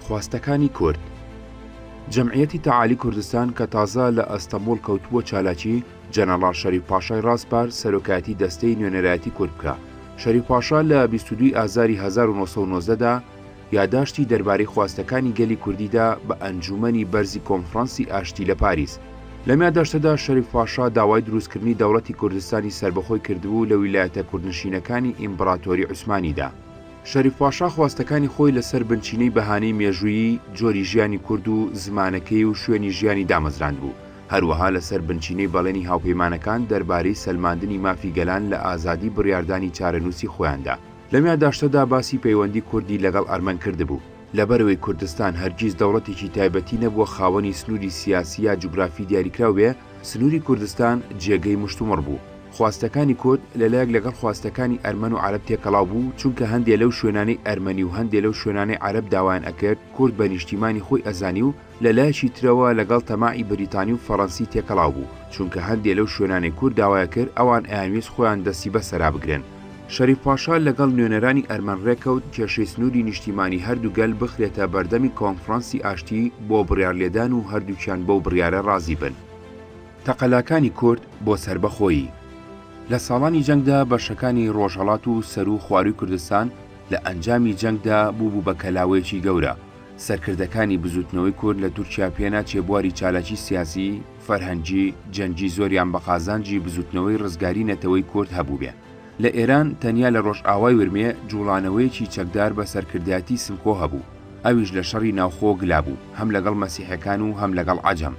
خواستەکانی کورد جەمعیەتی تەعالی کوردستان کە تازە لە ئەستەموڵ کەوتبووە چالاکی، جەنەڕاڵ شەریف پاشای ڕاسپارد سەرۆکایەتی دەستەی نوێنەرایەتی کورد بکا. شەریف پاشا لە بیست و دوو ی ئازاری هەزار و نۆ سەد و نۆزدە دا یاداشتی دەربارەی خواستەکانی گەلی کوردی دا بە ئەنجوومەنی بەرزی کۆنفڕانسی ئاشتی لە پاریس. لەم یاداشتەدا شەریف پاشا داوای درووستکردنی دەوڵەتی کوردستانی سەربەخۆی کردبوو لە ویلایەتە کوردنشینەکانی ئیمبڕاتۆری عوسمانیدا. شەریف پاشا خواستەکانی خۆی لە سەر بنچینەی بەهانەی مێژوویی جۆری ژیانی کورد و زمانەکەی و شوێنی ژیانی دامەزراندبوو، هەروەها لە سەر بنچینەی بەڵێنی هاوپەیمانەکان دەربارەی سەلماندنی مافی گەلان لە ئازادی بڕیاردانی چارەنووسی خۆیاندا. لەم یاداشتەدا باسی پەیوەندی کوردی لەگەڵ ئەرمەن کردبوو. لەبەرئەوەی کوردستان هەرگیز دەوڵەتێکی تایبەتی نەبووە خاوەنی سنووری سیاسی یا جوگرافی دیاریکراو بێ، سنووری کوردستان جێگەی مشتومڕ بوو. خواستەکانی کورد لەلایەک لەگەڵ خواستەکانی ئەرمەن و عەرەب تێکەڵاو بوو، چونکە هەندێ لەو شوێنانەی ئەرمەنی و هەندێ لەو شوێنانەی عەرەب داوایان ئەکرد کورد بە نیشتیمانی خۆی ئەزانی و لەلایەکی ترەوە لەگەڵ تەماعی بریتانی و فەڕەنسی تێکەڵاو بوو چونکە هەندێ لەو شوێنانەی کورد داوایەکرد ئەوان ئەیانویست خۆیان دەستی بەسەرا بگرن. شەریف پاشا لەگەڵ نوێنەرانی ئەرمەن ڕێککەوت کێشەی سنووری نیشتیمانی هەردوو گەل بخرێتە بەردەمی کۆنفڕانسی ئاشتی بۆ بڕیارلێدان و هەردووکیان بەو بڕیارە ڕازی بن. تەقەلاکانی کورد بۆ سەربەخۆیی. لە ساڵانی جەنگدا بەشەکانی ڕۆژهەڵات و سەروو خوارووی کوردستان لە ئەنجامی جەنگدا بووبوو بە کەلاوەیەکی گەورە، سەرکردەکانی بزووتنەوەی کورد لە تورکیا پێناچێ بواری چالاکی سیاسی، فەرهەنگی، جەنگی زۆریان بە قازانجی بزووتنەوەی ڕزگاری نەتەوەی کورد هەبووبێ. لە ئێران تەنیا لە ڕۆژئاوای ورمێ جووڵانەوەیەکی چەکدار بە سەرکردایەتی سمکۆ هەبوو، ئەویش لە شەڕی ناوخۆ گلابوو هەم لەگەڵ مەسیحەکان و هەم لەگەڵ عەجەم،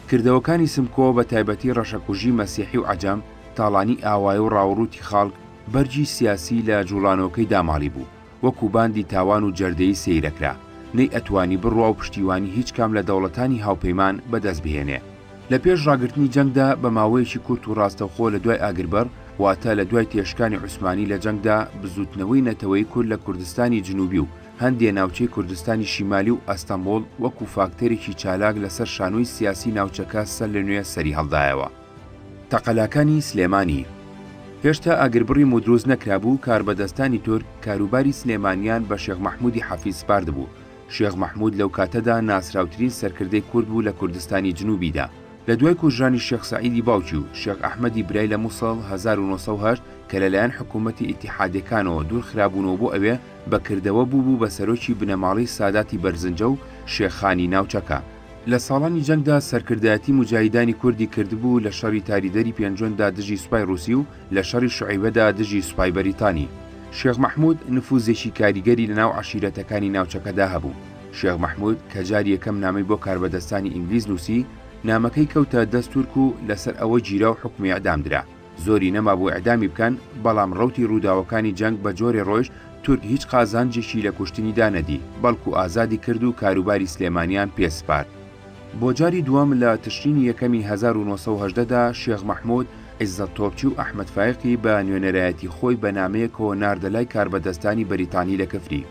کردەوەکانی سمکۆ بە تایبەتی ڕەشەکوژی مەسیحی و عەجەم، تاڵانی ئاوایە و ڕاوڕووتی خاڵک، بەرگی سیاسی لە جووڵانەوەکەی داماڵی بوو، وەکوو باندی تاوان و جەردەیی سێیرەکرا، نەی ئەتوانی بڕوا و پشتیوانی هیچ کام لە دەوڵەتانی هاوپەیمان بە دەست بهێنێ. لە پێش ڕاگرتنی جەنگدا بە ماوەیەکی کورت و ڕاستەوخۆ لە دوای ئاگربڕ، واتە لە دوای تێشکانی عوسمانی لە جەنگدا، بزووتنەوەی نەتەوەیی کورد لە کوردستانی جنووبی و، هەندێ ناوچەی کوردستانی شیمالی و ئەستەمبوڵ وەکوو فاکتەرێکی چالاک لەسەر شانۆی سیاسی ناوچەکە سەر لە نوێ سەری هەڵدایەوە. تەقەلاکانی سلێمانی هێشتا ئاگربڕی مودروست نەکرابوو، کاربەدەستانی تورک کاروباری سلێمانیان بە شێخ مەحموودی حەفید سپاردبوو، شێخ مەحموود لەو کاتەدا ناسراوترین سەرکردەی کورد بوو لە کوردستانی جنووبیدا. لە دوای کوژرانی شێخ سەعیدی باوکی و شێخ ئەحمەدی برای لە موسڵ هەزار و نۆ سەد و هەشت کە لەلایەن حکوومەتی ئیتیحادییەکانەوە دوورخرابوونەوە بۆ ئەوێ، بە کردەوە بووبوو بە سەرۆکی بنەماڵەی ساداتی بەرزنجە و شێخانی ناوچەکە. لە ساڵانی جەنگدا سەرکردایەتی موجاهیدانی کوردی کردبوو لە شەڕی تاریدەری پێنجوێندا دژی سوپای ڕووسی و لە شەڕی شوعەیبەدا دژی سوپای بەریتانی. شێخ مەحموود نفووزێکی کاریگەری لە ناو عەشیرەتەکانی ناوچەکەدا هەبوو. شێخ مەحموود کە جاری یەکەم نامەی بۆ کاربەدەستانی ئینگلیز نووسی، نامەکەی کەوتە دەست تورک و لەسەر ئەوە گیرا و حوکمی ئیعدام درا. زۆری نەمابوو ئیعدامی بکەن، بەڵام ڕەوتی ڕووداوەکانی جەنگ بە جۆرێ ڕۆیشت، تورک هیچ قازانجێکی لە کوشتنیدا نەدی، بەڵکو ئازادی کرد و کاروباری سلێمانیان پێ سپارد. بۆ جاری دووەم لە تشرینی یەکەمی هەزار و نۆ سەد و هەژدە دا، شێخ مەحموود، عیزەت تۆپچی و ئەحمەد فایقی بە نوێنەرایەتی خۆی بە نامەیەکەوە ناردە لای کاربەدەستانی بەریتانی لە کفری.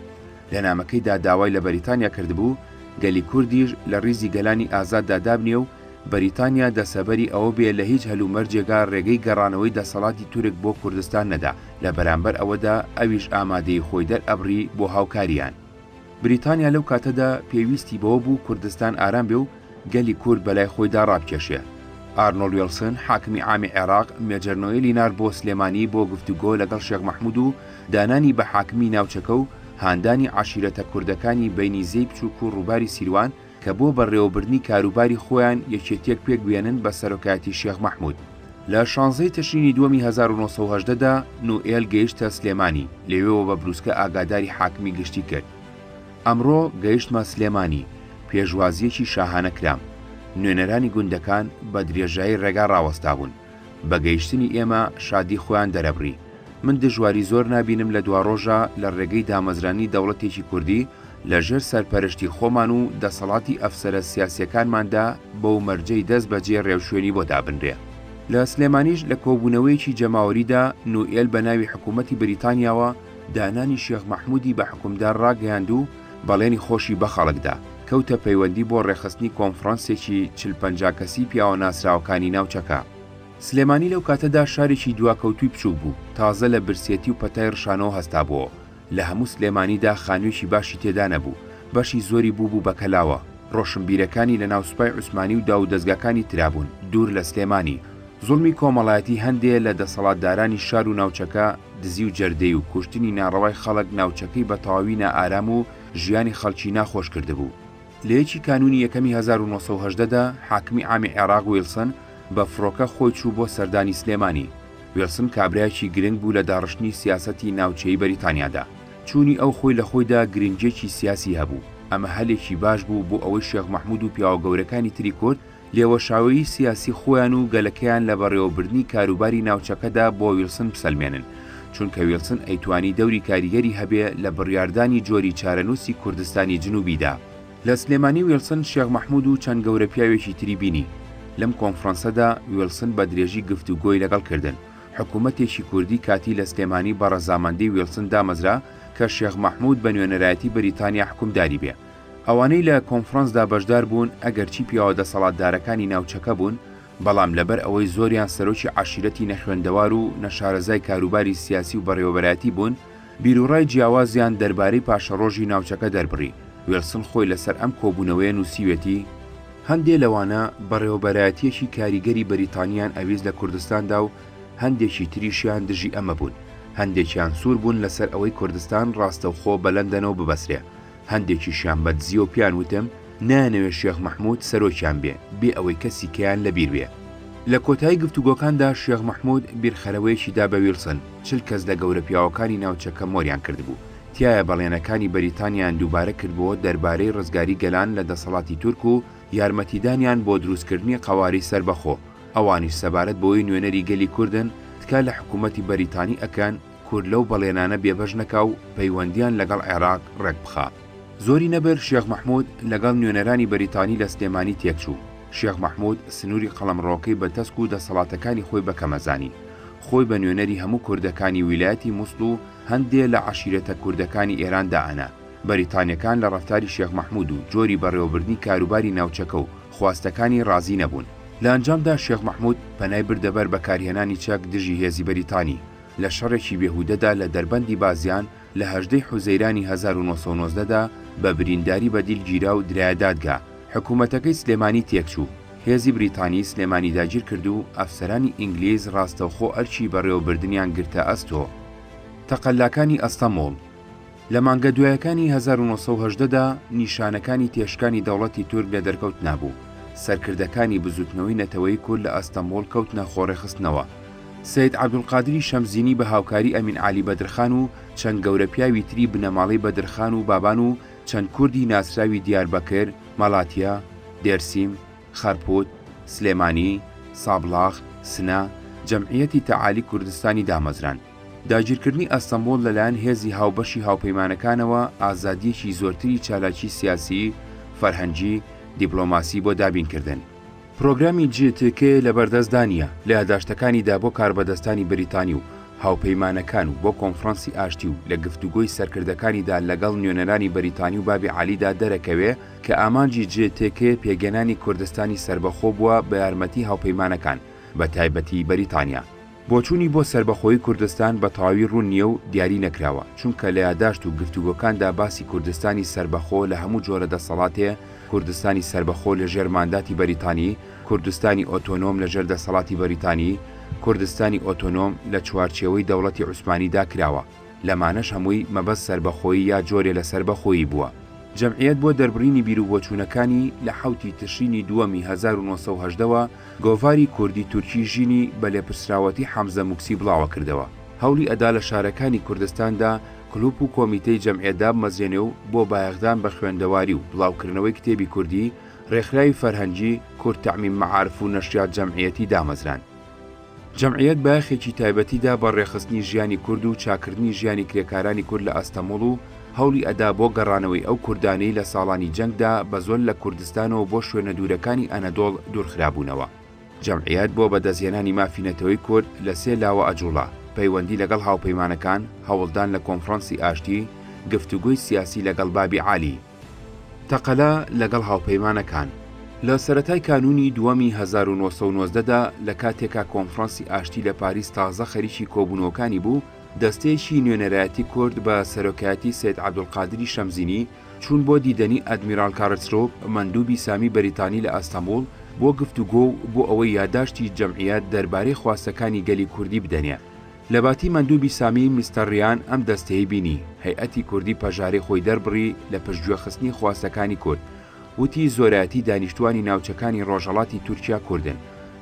لە نامەکەیدا داوای لە بەریتانیا کردبوو، گەلی کوردیش لە ڕیزی گەلانی ئازاددا دابنێ و، بەریتانیا دەسەبەری ئەوە بێ لە هیچ هەلومەرجێگا رێگەی گەڕانەوەی دەسەڵاتی تورک بۆ کوردستان نەدا، لە بەرامبەر ئەوەدا ئەویش ئامادەیی خۆی دەرئەبڕی بۆ هاوکارییان. بریتانیا لەو کاتەدا پێویستی بەوە بوو کوردستان ئارام بێ و گەلی کورد بەلای خۆیدا رابکێشێ. ئارنۆڵ وێڵسن، حاکمی عامی عێراق، مێجەر نۆێلی نارد بۆ سلێمانی بۆ گفتوگۆ لەگەڵ شێخ مەحمود و دانانی بە حاکمی ناوچەکە و هاندانی عەشیرەتە کوردەکانی بەینی زێی بچووک و رووباری سیروان، کە بۆ بەڕێوەبردنی کاروباری خۆیان یەکێتیەک پێک بێنن بە سەرۆکایەتی شێخ مەحمود. لە شانزەی تشرینی دووەمی هەزار و نۆ سەد و هەژدە دا نوئێل گەیشتە سلێمانی، لەوێوە بە بروسکە ئاگاداری حاکمی گشتی کرد. ئەمڕۆ گەیشتمە سلێمانی، پێشوازییەکی شاهانە کرام. نوێنەرانی گوندەکان بە درێژایی ڕێگا ڕاوەستابوون. بە گەیشتنی ئێمە شادی خۆیان دەرەبڕی. من دژواری زۆر نابینم لە دواڕۆژە لە ڕێگەی دامەزرانی دەوڵەتێکی کوردی لە ژێر سەرپەرشتی خۆمان و دەسەڵاتی ئەفسەرە سیاسیەکانماندا بەو مەرجەی دەست بەجێ ڕێوشوێنی بۆ دابنرێ. لە سلێمانیش لە کۆبوونەوەیەکی جەماوەریدا نوئێل بە ناوی حکوومەتی بریتانیاوە دانانی شێخ مەحموودی بە حوکمدار ڕاگەیاند و، بەڵێنی خۆشی بە خەڵک دا، کەوتە پەیوەندی بۆ ڕێکخستنی کۆنفڕانسێکی چل پەنجا کەسی پیاوە ناسراوەکانی ناوچەکە. سلێمانی لەو کاتەدا شارێکی دواکەوتووی بچووک بوو، تازە لە برسێتی و پەتای ڕشانەوە هەستابۆوە، لە هەموو سلێمانیدا خانوویەکی باشی تێدا نەبوو، بەشی زۆری بووبوو بە کەلاوە، ڕۆشنبیرەکانی لەناو سوپای عوسمانی و داوودەزگاکانی ترابوون، دوور لە سلێمانی. زوڵمی کۆمەڵایەتی هەندێ لە دەسەڵاتدارانی شار و ناوچەکە، دزی و جەردەی و کوشتنی ناڕەوای خەڵک ناوچەکەی بە تەواوی نائارام و ژیانی خەڵکی ناخۆش کردبوو. لە یەکی کانوونی یەکەمی هەزار و نۆ سەد و هەژدە دا حاکمی عامی عێراق ویڵسن بە فڕۆکە خۆی چوو بۆ سەردانی سلێمانی. ویڵسن کابرایەکی گرنگ بوو لە داڕشتنی سیاسەتی ناوچەیی بەریتانیادا. چوونی ئەو خۆی لە خۆیدا گرنگییەکی سیاسی هەبوو. ئەمە هەلێکی باش بوو بۆ ئەوەی شێخ مەحموود و پیاوە گەورەکانی تری کورد لێوەشاوەیی سیاسی خۆیان و گەلەکەیان لە بەڕێوەبردنی کاروباری ناوچەکەدا بۆ ویڵسن بسەلمێنن، چونکە ویڵسن ئەیتوانی دەوری کاریگەری هەبێ لە بڕیاردانی جۆری چارەنووسی کوردستانی جنوبیدا. لە سلێمانی ویڵسن شێخ مەحمود و چەند گەورە پیاوێکی تری بینی. لەم کۆنفڕانسەدا ویڵسن بە درێژی گفتوگۆی لەگەڵ کردن. حکوومەتێکی کوردی کاتی لە سلێمانی بە ڕەزامەندی ویڵسن دامەزرا کە شێخ مەحمود بە نوێنەرایەتی بریتانیا حکومداری بێ. ئەوانەی لە کۆنفرانسدا بەشدار بوون ئەگەرچی پیاوە دەسەڵاتدارەکانی ناوچەکە بوون، بەڵام لەبەر ئەوەی زۆریان سەرۆکی عەشیرەتی نەخوێندەوار و نەشارەزای کاروباری سیاسی و بەڕێوەبەرایەتی بوون، بیروڕای جیاوازیان دەربارەی پاشەڕۆژی ناوچەکە دەربڕی، ویڵسن خۆی لەسەر ئەم کۆبوونەوەیە نووسیوێتی، هەندێ لەوانە بەڕێوەبەرایەتییەکی کاریگەری بەریتانییان ئەویست لە کوردستاندا و هەندێکی تریشیان دژی ئەمە بوون، هەندێکیان سوور بوون لەسەر ئەوەی کوردستان ڕاستەوخۆ بە لەندەنەوە ببەسرێ، هەندێکیشیان بە دزیەوە پێیان وتم نایانەوێ شێخ مەحمود سەرۆکیان بێ، بێ ئەوەی کەسی کەیان لە بیر بێ. لە کۆتایی گفتوگۆکاندا شێخ مەحمود بیرخەرەوەیەکی دا بە ویڵسن، چل کەس لە گەورە پیاوەکانی ناوچەکە مۆریان کردبوو، تیایا بەڵێنەکانی بەریتانیایان دووبارە کردبۆوە دەربارەی ڕزگاری گەلان لە دەسەڵاتی تورک و یارمەتیدانیان بۆ دروستکردنی قەواری سەربەخۆ، ئەوانیش سەبارەت بەوەی نوێنەری گەلی کوردن تکا لە حکوومەتی بەریتانی ئەکەن، کورد لەو بەڵێنانە بێبەش نەکا و پەیوەندییان لەگەڵ عێراق ڕێک بخا. زۆری نەبر شێخ مەحموود لەگەڵ نوێنەرانی بەریتانی لە سلێمانی تێکچوو. شێخ مەحموود سنووری قەڵەمڕەوەکەی بە تەسک و دەسەڵاتەکانی خۆی بە کەمە زانی. خۆی بە نوێنەری هەموو کوردەکانی ویلایەتی موسڵ و هەندێ لە عەشیرەتە کوردەکانی ئێران دائەنا. بەریتانییەکان لە ڕەفتاری شێخ مەحموود و جۆری بەڕێوەبردنی کاروباری ناوچەکە و خواستەکانی ڕازی نەبوون. لە ئەنجامدا شێخ مەحموود پەنای بردە بەر بەکارهێنانی چەک دژی هێزی بەریتانی. لە شەڕێکی بێهودەدا لە دەربەندی بازیان لە هەژدەی حوزەیرانی هەزار و نۆ سەد و نۆزدە دا بە برینداری بە دیل گیرا و درایە دادگا. حکوومەتەکەی سلێمانی تێکچوو. هێزی بریتانی سلێمانی داگیر کرد و ئەفسەرانی ئینگلیز ڕاستەوخۆ ئەرکی بەڕێوەبردنیان گرتە ئەستۆ. تەقەلاکانی ئەستەمووڵ. لە مانگە دوایەکانی هەزار و نۆ سەد و هەژدە دا نیشانەکانی تێشکانی دەوڵەتی تورک لە دەرکەوت نابوو، سەرکردەکانی بزووتنەوەی نەتەوەیی کورد لە ئەستەمبوڵ کەوتنە خۆڕێخستنەوە. سەید عەبدولقادری شەمزینی بە هاوکاری ئەمین عەلی بەدرخان و چەند گەورەپیاوی تری بنەماڵەی بەدرخان و بابان و چەند کوردی ناسراوی دیاربەکر، مەلاتیا، دێرسیم، خەرپوت، سلێمانی، سابڵاغ، سنە، جەمعیەتی تەعالی کوردستانی دامەزراند. داگیرکردنی ئەستەنبوڵ لەلایەن هێزی هاوبەشی هاوپەیمانەکانەوە ئازادییەکی زۆرتری چالاکی سیاسی، فەرهەنگی، دیپڵۆماسی بۆ دابینکردن. پرۆگرامی جی تی کی لەبەردەستدا نییە، لە یاداشتەکانیدا بۆ کاربەدەستانی بەریتانی و هاوپەیمانەکان و بۆ کۆنفرانسی ئاشتی و لە گفتوگۆی سەرکردەکانیدا لەگەڵ نوێنەرانی بەریتانی و بابی عەلیدا دەرەکەوێ کە ئامانجی جی تی کی پێگەنانی کوردستانی سەربەخۆ بووە بە یارمەتی هاوپەیمانەکان بە تایبەتی بەریتانیا. بۆچوونی بۆ سەربەخۆیی کوردستان بە تەواوی ڕوون نییە و دیاری نەکراوە، چونکە لە یاداشت و گفتوگۆکاندا باسی کوردستانی سەربەخۆ لە هەموو جۆرە دەسەڵاتێ، کوردستانی سەربەخۆ لە ژێر مانداتی بەریتانی، کوردستانی ئۆتۆنۆم لە ژێر دەسەڵاتی بەریتانی، کوردستانی ئۆتۆنۆم لە چوارچێوەی دەوڵەتی عوسمانی دا کراوە، لەمانەش هەمووی مەبەست سەربەخۆیی یا جۆرێ لە سەربەخۆیی بووە. جەمعیەت بۆ دەربڕینی بیروبۆچوونەکانی، لە حەوتی تشرینی دووەمی هەزار و نۆ سەد و هەژدە وە، گۆڤاری کوردی تورکی ژینی بە لێپرسراوەتی حەمزە موکسی بڵاوەکردەوە، هەوڵی ئەدا لە شارەکانی کوردستاندا کلوپ و کۆمیتەی جەمعیەت دابمەزرێنێ و بۆ بایەخدان بە خوێندەواری و بڵاوکردنەوەی کتێبی کوردی، رێکخراوی فەرهەنگی، کورد تامین معارف و نەشریات جەمعیەتی دامەزراند. جەمعیەت بایەخێکی تایبەتی دا بە ڕێکخستنی ژیانی کورد و چاککردنی ژیانی کرێکارانی کورد لە ئەستەموڵ و هەوڵی ئەدا بۆ گەڕانەوەی ئەو کوردانەی لە ساڵانی جەنگدا بە زۆر لە کوردستانەوە بۆ شوێنە دوورەکانی ئەنەدۆڵ دوورخرابوونەوە. جەمعیەت بۆ بەدەستهێنانی مافی نەتەوەی کورد لە سێ لاوە ئەجوڵا، پەیوەندی لەگەڵ هاوپەیمانەکان، هەوڵدان لە کۆنفڕانسی ئاشتی، گفتوگۆی سیاسی لەگەڵ بابی عالی. تەقەلا لەگەڵ هاوپەیمانەکان. لە سەرەتای کانوونی دووەمی هەزار و نۆ سەد و نۆزدە دا، لە کاتێکا کۆنفرانسی ئاشتی لە پاریس تازە خەریکی کۆبوونەوەکانی بوو، دەستەیەکی نوێنەرایەتی کورد بە سەرۆکایەتی سەید عەبدولقادری شەمزینی چوون بۆ دیدەنی ئەدمیراڵ کارلسروپ مەندووبی سامی بەریتانی لە ئەستەمبوڵ بۆ گفتوگۆ و بۆ ئەوەی یاداشتی جەمعیەت دەربارەی خواستەکانی گەلی کوردی بدەنێ لە باتی مەندوبی سامی مستەر ریان ئەم دەستەی بینی هەیئەتی کوردی پەژارەی خۆی دەربڕی لە پشت گوێ خستنی خواستەکانی کورد وتی زۆرایەتی دانیشتوانی ناوچەکانی ڕۆژەڵاتی تورکیا کوردن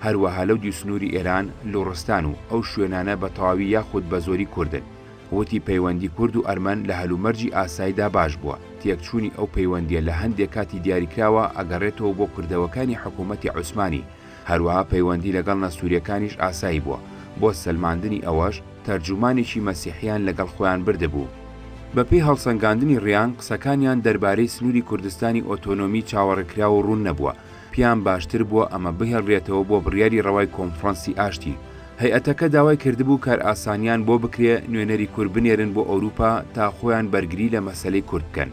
هەروەها لەو دیو سنوری ئێران لوڕستان و ئەو شوێنانە بە تەواوی یاخود بە زۆری کوردن وتی پەیوەندی کورد و ئەرمەن لە هەلومەرجی ئاسایدا باش بووە تێکچوونی ئەو پەیوەندیە لە هەندێ کاتی دیاریکراوە ئەگەڕێتەوە بۆ کردەوەکانی حکوومەتی عوسمانی هەروەها پەیوەندی لەگەڵ نەستوریەکانیش ئاسایی بووە، بۆ سەلماندنی ئەوەش تەرجومانێکی مەسیحیان لەگەڵ خۆیان بردبوو. بەپێی هەڵسەنگاندنی ڕیان قسەکانیان دەربارەی سنوری کوردستانی ئۆتۆنۆمی چاوەڕێکراو و ڕوون نەبووە، پێیان باشتر بووە ئەمە بهێڵرێتەوە بۆ بڕیاری ڕەوای کۆنفڕەنسی ئاشتی. هەیئەتەکە داوای کردبوو کارئاسانیان بۆ بکرێ نوێنەری کورد بنێرن بۆ ئەوروپا تا خۆیان بەرگری لە مەسەلەی کورد بکەن.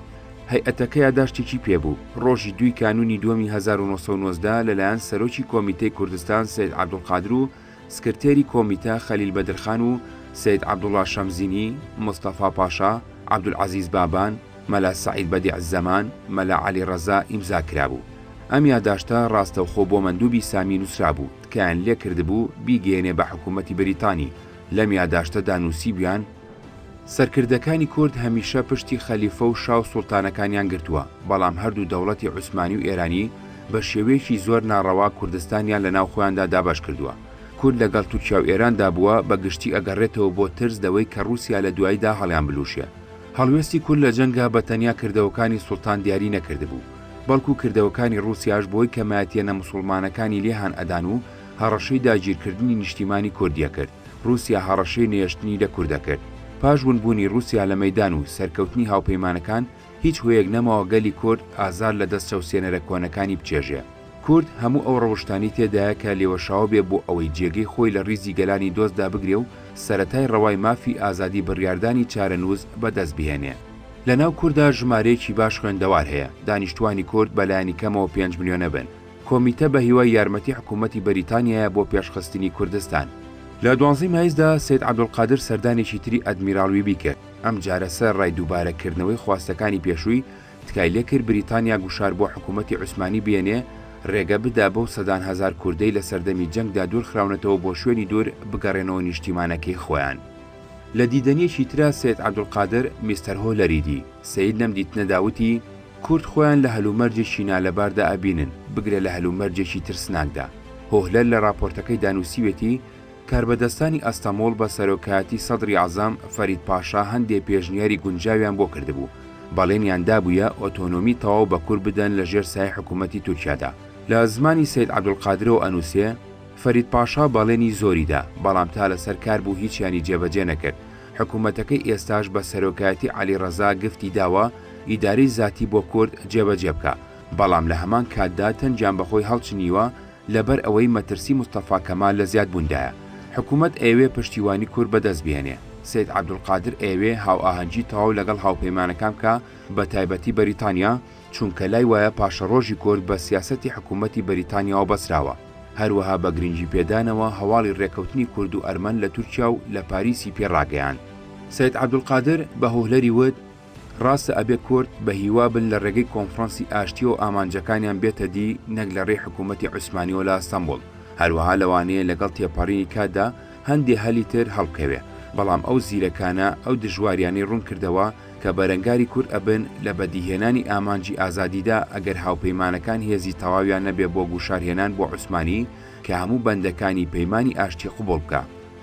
هەیئەتەکە یاداشتێکی پێبوو، ڕۆژی دووی کانوونی دووەمی هەزار و نۆ سەد و نۆزدە لەلایەن سەرۆکی کۆمیتەی کوردستان سەید عەبدولقادر و سکرتێری کۆمیتە خەلیل بەدرخان و سەید عەبدوڵڵا شەمزینی، مستەفا پاشا، عەبدولعەزیز بابان، مەلا سەعید بەدیع زەمان، مەلا عەلی ڕەزا ئیمزا کرابوو. ئەم یاداشتە ڕاستەوخۆ بۆ مەندووبی سامی نووسرابوو، تکایان لێکردبوو بیگەیەنێ بە حکوومەتی بەریتانی، لەم یاداشتەدا نووسیبوویان، سەرکردەکانی کورد هەمیشە پشتی خەلیفە و شا و سوڵتانەکانیان گرتووە، بەڵام هەردوو دەوڵەتی عوسمانی و ئێرانی بە شێوەیەکی زۆر ناڕەوا کوردستانیان لە ناو خۆیاندا دابەش کردووە. کورد لەگەڵ تورکیا و ئێراندا بووە، بە گشتی ئەگەڕێتەوە بۆ ترس لەوەی کە ڕووسیا لە دواییدا هەڵیان بلووشێ. هەڵوێستی کورد لە جەنگا بە تەنیا کردەوەکانی سوڵتان دیاری نەکردبوو، بەڵکوو کردەوەکانی ڕووسیاش بۆی کەمایەتییە نەموسوڵمانەکانی لێ هان ئەدان و هەڕەشەی داگیرکردنی نیشتیمانی کوردییە کرد. ڕووسیا هەڕەشەی نەهێشتنی لە کورد دەکرد. پاش ونبوونی ڕووسیا لە مەیدان و سەرکەوتنی هاوپەیمانەکان، هیچ هۆیەک نەماوە گەلی کورد ئازار لە دەست چەوسێنەرە کۆنەکانی بچێژێ. کورد هەموو ئەو ڕەوشتانەی تێدایە کە لێوەشاوە بێ بۆ ئەوەی جێگەی خۆی لە ڕیزی گەلانی دۆست دابگرێ و سەرەتای ڕەوای مافی ئازادی بڕیاردانی چارەنووس بە دەست بهێنێ. لە ناو کوردا ژمارەیەکی باش خوێندەوار هەیە، دانیشتووانی کورد بە لایەنی کەمەوە پێنج ملیۆنە بن، کۆمیتە بە هیوای یارمەتی حکوومەتی بەریتانیایە بۆ پێشخستنی کوردستان. لە دوانزەی مایسدا سەید عەبدولقادر سەردانێکی تری ئەدمیراڵ ویبی کرد، ئەمجارە سەرەڕای دووبارە کردنەوەی خواستەکانی پێشووی، تکای لێ کرد بریتانیا گوشار بۆ حکوومەتی عوسمانی بێنێ ڕێگە بدا بەو سەدان هەزار کوردەی لە سەردەمی جەنگدا دوور خراونەتەوە بۆ شوێنی دوور بگەڕێنەوە نیشتیمانەکەی خۆیان. لە دیدەنیەکی ترا سەید عەبدولقادر میستەر هۆلەریدی، سەید لەم دیتنەدا وتی، کورد خۆیان لە هەلومەرجێکی نالەباردا ئەبینن، بگرە لە هەلومەرجێکی ترسناکدا. هۆهلەر لە راپۆرتەکەیدا نووسیوێتی، کاربەدەستانی ئەستەموڵ بە سەرۆکایەتی سەدری عەزەم، فەرید پاشا هەندێ پێشنیاری گونجاویان بۆ کردبوو، بەڵێنیان دابوویە ئۆتۆنۆمی تەواو بە کورد بدەن لە ژێر سایەی حکوومەتی تورکیادا. لە زمانی سەید عەبدولقادرەوە ئەنووسێ، فەرید پاشا بەڵێنی زۆری دا، بەڵام تا لەسەر کار بوو هیچیانی جێبەجێ نەکرد. حکومەتەکەی ئێستاش بە سەرۆکایەتی عەلی ڕەزا گفتی داوە ئیدارەی زاتی بۆ کورد جێبەجێ بکا، بەڵام لە هەمان کاتدا تەنگیان بە خۆی هەڵچنیوە لەبەر ئەوەی مەترسی مستەفا کەمال لە زیاد بووندایە. حکومەت ئەیەوێ پشتیوانی کورد بە دەست بهێنێ. سەید عەبدولقادر ئەیەوێ هاوئاهەنگی تەواو لەگەڵ هاوپەیمانەکان بکا بە تایبەتی بەریتانیا، چونکە لای وایە پاشەڕۆژی کورد بە سیاسەتی حکومەتی بەریتانیاوە بەسراوە. هەروەها بە گرنگی پێدانەوە هەواڵی رێکەوتنی کورد و ئەرمەن لە تورکیا و لە پاریسی پێ راگەیاند. سەید عەبدولقادر بە هوهلەری وت، راستە ئەبێ کورد بە هیوا بن لە رێگەی کۆنفرانسی ئاشتییەوە ئامانجەکانیان بێتە دی نەک لە رێی حکوومەتی عوسمانییەوە لە ئەستەنبوڵ، هەروەها لەوانەیە لەگەڵ تێپەڕینی کاتدا هەندێ هەلی تر هەڵبکەوێ، بەڵام ئەو زیرەکانە ئەو دژوارییانەی روون کردەوە، کە بەرەنگاری کورد ئەبن لە بەدیهێنانی ئامانجی ئازادیدا ئەگەر هاوپەیمانەکان هێزی تەواویان نەبێ بۆ گوشارهێنان بۆ عوسمانی کە هەموو بەندەکانی پەیمانی ئاشتی قبوڵ بکا.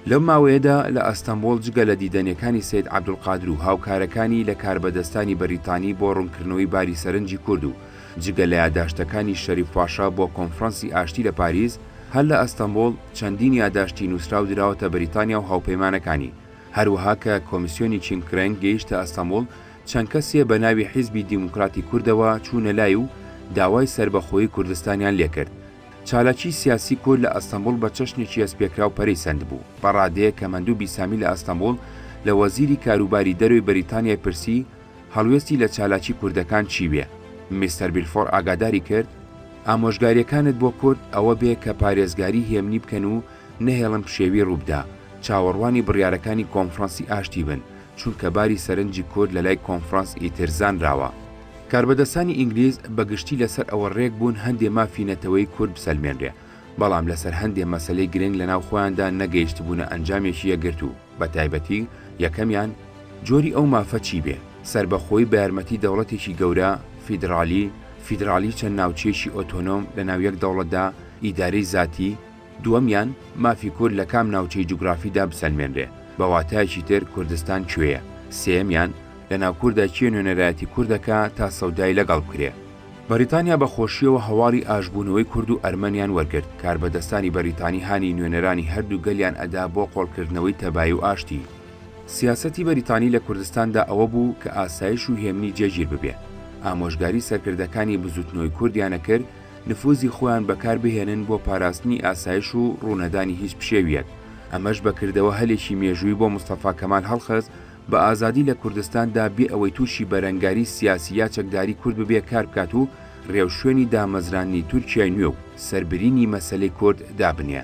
لەو ماوەیەدا لە ئەستەنبوڵ جگە لە دیدەنیەکانی سەید عەبدولقادر و هاوکارەکانی لە کاربەدەستانی بەریتانی بۆ ڕوونکردنەوەی باری سەرنجی کورد و جگە لە یاداشتەکانی شەریف پاشا بۆ کۆنفرانسی ئاشتی لە پاریس، هەر لە ئەستەنبوڵ چەندین یاداشتی نووسراو دراوەتە بەریتانیا و هاوپەیمانەکانی. هەروەها کە کۆمیسیۆنی چیم کرێنگ گەیشتە ئەستەموڵ، چەند کەسێ بە ناوی حیزبی دیموکراتی کوردەوە چوونە لای و داوای سەربەخۆیی کوردستانیان لێ کرد. چالاکیی سیاسی کورد لە ئەستەموڵ بە چەشنێکی هەستپێکراو پەرەی سەندبوو. بە ڕادەیەک کە مەندوو بیسامی لە ئەستەموڵ لە وەزیری کاروباری دەرەوەی بەریتانیای پرسی، هەڵوێستی لە چالاکی کوردەکان چی بێ؟ میستەر بیلفۆر ئاگاداری کرد، ئامۆژگارییەکانت بۆ کورد ئەوە بێ کە پارێزگاریی هێمنی بکەن و نەهێڵن پشێوی ڕوو بدا. چاوەڕوانی بڕیارەکانی کۆنفرانسی ئاشتی بن، چونکە باری سەرنجی کورد لەلای کۆنفرانس ئیتر زانراوە. کاربەدەستانی ئینگلیز بە گشتی لەسەر ئەوە رێک بوون هەندێ مافی نەتەوەیی کورد بسەلمێنرێ، بەڵام لەسەر هەندێ مەسەلەی گرنگ لەناو خۆیاندا نەگەیشتبوونە ئەنجامێکی یەکگرتوو، بە تایبەتی، یەکەمیان، جۆری ئەو مافە چی بێ، سەربەخۆیی بە یارمەتی دەوڵەتێکی گەورە، فیدرالی، فیدرالی چەند ناوچەیەکی ئۆتۆنۆم لەناو یەک دەوڵەتدا، ئیدارەی زاتی، دووەمیان، مافی کورد لە کام ناوچەی جوگرافیدا بسەلمێنرێ، بە واتایەکی تر کوردستان کوێیە؟ سێیەمیان، لە ناو کوردا کێ نوێنەرایەتی کورد دەکا تا سەودای لە گەڵ بکرێ؟ بەریتانیا بە خۆشییەوە هەواڵی ئاشبوونەوەی کورد و ئەرمەنیان وەرگرت، کاربەدەستانی بەریتانی هانی نوێنەرانی هەر دوو گەلیان ئەدا بۆ قۆڵ کردنەوەی تەبایی و ئاشتی. سیاسەتی بەریتانی لە کوردستاندا ئەوە بوو کە ئاسایش و هێمنی جێگیر ببێ. ئامۆژگاری سەرکردەکانی بزووتنەوەی کوردیان ئەکرد نفوزی خۆیان بەکار بهێنن بۆ پاراستنی ئاسایش و ڕوونەدانی هیچ پشێویەک، ئەمەش بە کردەوە هەلێکی مێژووی بۆ مستەفا کەمال هەڵخست بە ئازادی لە کوردستاندا بێ ئەوەی تووشی بەرەنگاری سیاسی یا چەکداری کورد ببێ کار بکات و ڕێوشوێنی دامەزراندنی تورکیای نوێ و سەربرینی مەسەلەی کورد دابنێ.